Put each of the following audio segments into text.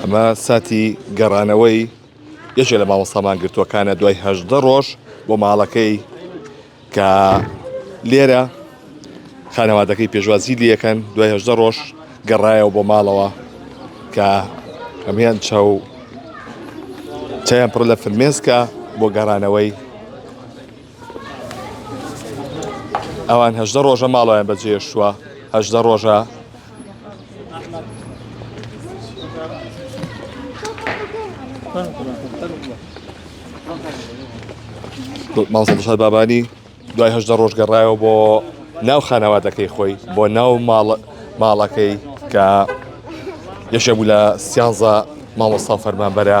ئەمە ساتی گەڕانەوەی یەکێ لە مامۆستا مانگرتووەکانە دوای هەژدە ڕۆژ بۆ ماڵەکەی کە لێرە خانەوادەکەی پێشوازی لەکەن دوای هەژدە ڕۆژ گەڕایەوە بۆ ماڵەوە کە ئەمیان چاو چیان پڕ لە فرمێسکە بۆ گەڕانەوەی ئەوان هەژدە ڕۆژە ماڵۆیان بەجێشتووە هەژدە ڕۆژە ماڵسەدشار بابانی دوای هەژدە ڕۆژ گەڕایەوە بۆ ناو خانەوادەکەی خۆی بۆ ناو ماڵەکەی کە یەشە بوو لە سیانزە مامۆستا فەرمانبەرە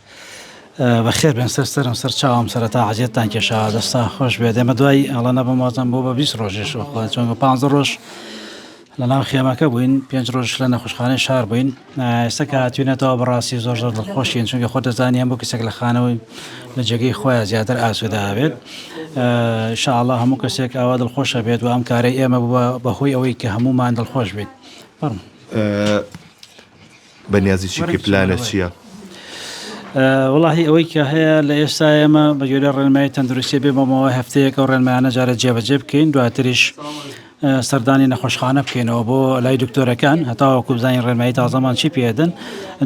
بەخێر بێن سەر سەرم سەر چاوم سەرەتا عزیێتتان کێشاوە دەستان خۆش بێ دێمە دوای ئەڵە نەبم وازم بۆ بە 20 ڕۆژێش وەخوا چۆن بە پ ڕۆژ لە ناو خێمەکە بووین پێنج ڕۆژ لە نەخۆشخانەی شار بووین ئێستا کاتوینەتەوە بەڕاستی زۆر زۆر دڵخۆشین چونکە خۆ دەزانیان بۆ کەسێک لە خانەوەی لە جێگەی خۆیان زیاتر ئاسودا بێت شاءله هەموو کەسێک ئاوا دڵخۆشە بێت و ئەم کارەی ئێمە بووە بەهۆی ئەوەی کە هەمومان دڵخۆش بێت بڕم. بەنیازی چی بکەی پلانت چیە؟ وەڵاهی ئەوەی کە هەیە لە ئێستا ئێمە بە گوێرە ڕێنمایی تەندروستی بێ بەمەوە هەفتەیەک ئەو ڕێنمایانە جارە جێبەجێ بکەین دواتریش سەردانی نەخۆشخانە بکەینەوە بۆ لای دکتۆرەکان هەتاوە کوبزانانی ڕێنمایی تازەمان چی پێدن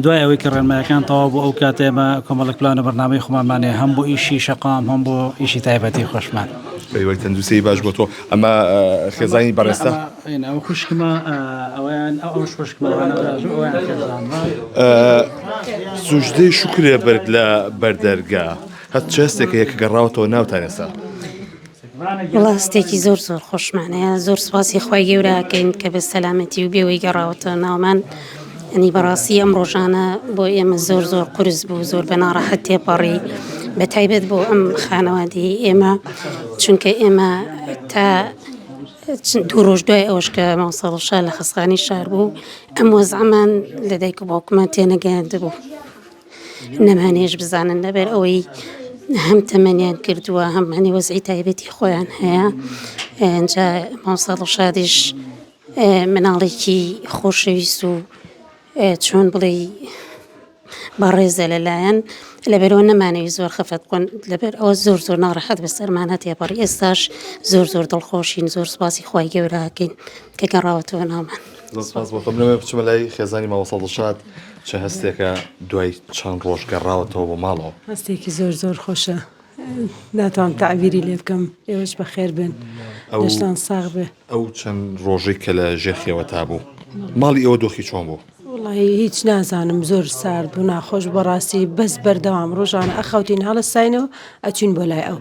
دوای ئەوەی کە ڕێنمایەکان تەوا بۆ ئەو کاتێمە کۆمەڵک پلان و بەرنامەی خۆمانمانێ هەم بۆ ئیشی شقام هەم بۆ ئیشی تایبەتی خۆشمان پێوەی تەندوسی باش بۆ تۆ ئەمە خێزانی بەڕێستا. سوجدەی شوکرێ بەرد لە بەر دەرگا. هەت چ هەستێک هەیە کە گەڕاوەتەوە ناوتان ئێستا؟ وەڵا هەستێکی زۆر زۆر خۆشمان هەیە زۆر سوپاسی خوای گەورە ئەکەین کە بە سەلامەتی و بێوەی گەڕاوەتەوە ناومان ئەنی بەڕاستی ئەم ڕۆژانە بۆ ئێمە زۆر زۆر قورس بوو زۆر بە ناڕەحەت تێپەڕی بە تایبەت بۆ ئەم خانەوادەی ئێمە چونکە ئێمە تا دوو ڕۆژ دوای ئەوەش کە مامۆستا دڵشاد لە خەسخانی شار بوو ئەم وەزعەمان لە دایک و باوکمان تێنەگەیاندبوو نەمانێش بزانن لەبەر ئەوەی هەم تەمەنیان کردووە هەم هەنێ وەزعی تایبەتی خۆیان هەیە ئەجا مامۆستا دڵشادیش مناڵێکی خۆشەویست و چۆن بڵێی بەڕێزە لەلایەن لەبەرئەوە نەمانەوی زۆر خەفەت بکەن لەبەر ئەوە زۆر زۆر ناڕەحەت بەسەرمان هاتیە پەڕی ئێستاش زۆر زۆر دڵخۆشین زۆر سپاسی خوای گەوراکەین کە گەڕاوەتەوە ناومان بچمە لای خێزانی ماوەسەڵ دڵشاد چ هەستێکە دوای چەند ڕۆژ گەڕاوەتەوە بۆ ماڵەوە هەستێکی زۆر زۆر خۆشە ناتوان تعبیری لێ بکەم ئێوەش بەخێر بن ئەوشتان ساغ بێ ئەو چەند ڕۆژی کە لە ژێخیەوە تا بوو ماڵی ئەوە دۆخی چۆن بوو وەڵاهی هیچ نازانم زۆر سارد بوو ناخۆش بەڕاستی بەس بەردەوام ڕۆژانە ئەخەوتین هەڵستاینەوە ئەچین بۆ لای ئەو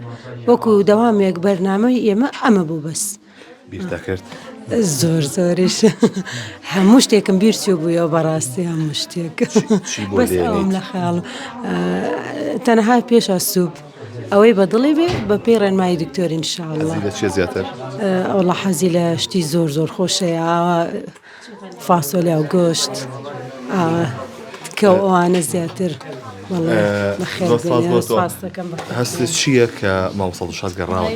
وەکو دەوامێک بەرنامەی ئێمە ئەمە بوو بەس بیرتەکرد زۆر زۆریش هەموو شتێکم بیرچوو بووە بەڕاستی هەموو شتێک چی بۆ بەس لێ ئەوم لە خەیاڵ تەنها پێشە سووپ ئەوەی بە دڵی بێ بە پێی ڕێنمایی دکتۆرین شاء الله حەزی لە چێ زیاتر؟ ئەوڵە حەزی لە شتی زۆر زۆر خۆشەیە ئاوا فاسۆلیا و گۆشت تکەو ئەوانە زیاتر هەست چییە کە ماوەسەڵشاز گەڕاوە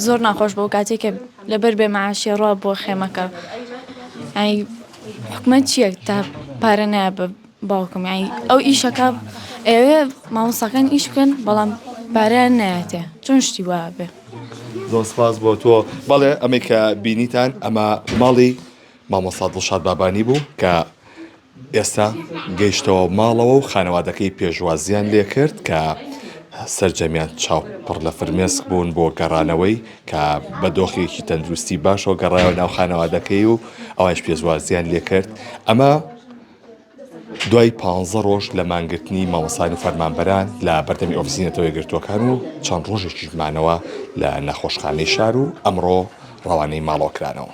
زۆر ناخۆش بۆ کاتێک کە لەبەر بێ مەعاشیە ڕوا بۆ خێمەکە حکومەت چییە تا پارە نایە بە باوکم یانی ئەو ئیشەکە ئەوێ مامۆستاکان ئیش بکەن بەڵام پارەیان نایەتێ چۆن شتی وا بێ زۆر سپاس بۆ تۆ بەڵێ ئەمەی کە بینیتان ئەمە ماڵی مامۆستا دڵشاد بابانی بوو کە ئێستا گەیشتەوە ماڵەوە و خانەوادەکەی پێشوازیان لێ کرد کە سرجەمیان چاو پڕ لە فرمێسک بوون بۆ گەڕانەوەی کە بە دۆخێکی تەندروستی باشەوە گەڕایەوە ناو خانەوادەکەی و ئەوش پێزوازیان لێکرد ئەمە دوای پانزە ڕۆژ لە مانگرتنی مامۆستایان و فەرمانبەران لە بەردەمی ئۆفیسی نەتەوە یەکگرتووەکان و چەند ڕۆژێکیش مانەوە لە نەخۆشخانەی شار و ئەمڕۆ ڕەوانەی ماڵەوە کرانەوە.